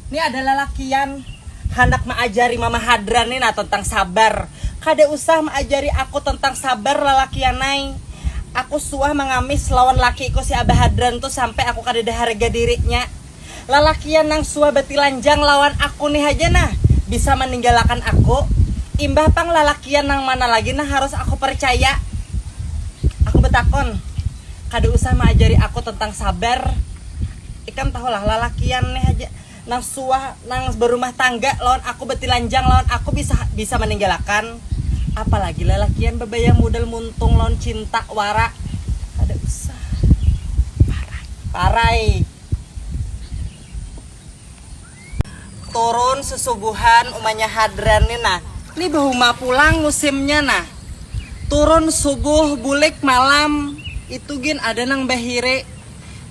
Ni ada lalakian handak maajari mama hadran ni nah tentang sabar. Kada usah maajari aku tentang sabar lalakian ai. Aku suah mangamis lawan lakiku si abah hadran tu sampai aku kadada harga dirinya. Lalakian nang suah batilanjang lawan aku ni haja nah bisa maninggalakan aku. Imbah pang lalakian nang mana lagi nang harus aku parcaya? Aku batakun. Kada usah maajari aku tentang sabar. Ikam tahulah, lalakian ne haja nang suah nang barumah tangga lawan aku batilanjang lawan aku bisa bisa maninggalakan, apalagi lalakian babayar mudal muntung lawan cinta wara, kada usah. Parai. Turun susubuhan umanya hadran ni nah. Ni bahuma pulang musimnya nah. Turun subuh bulik malam. Itu gin ada nang bahiri.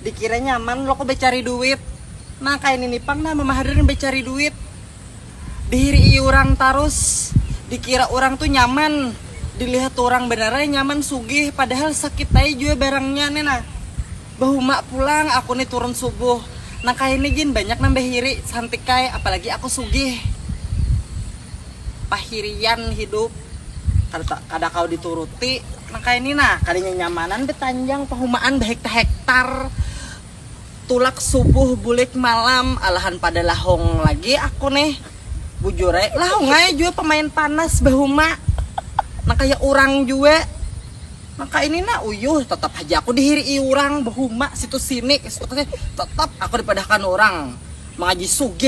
Dikira nyaman loko bacari duit. Nah kaya nini pang nah mama hadran bacari duit. Dihirii urang tarus. Dikira urang tu nyaman. Dilihat urang banar ai nyaman sugih padahal sakit ai jua barangnya ni nah. Bahuma pulang aku ni turun subuh. Nang kaya ni gin banyak nang bahiri, santikai, apalagi aku sugih. Pahirian hidup. Kada kada kawa dituruti nang kaya ni nah. Kada nyanyamanan batanjang pahumaan bahektar-hektar. Tulak subuh bulik malam, alahan pada lahung lagi aku nih. Bujur ai, lahung ai jua pamain panas bahuma. Nang kaya urang jua. Maka ini nah, uyuh, tetap haja aku dihirii urang, bahuma situ sini, esuk teh tetap aku dipadahkan urang mangaji sugih.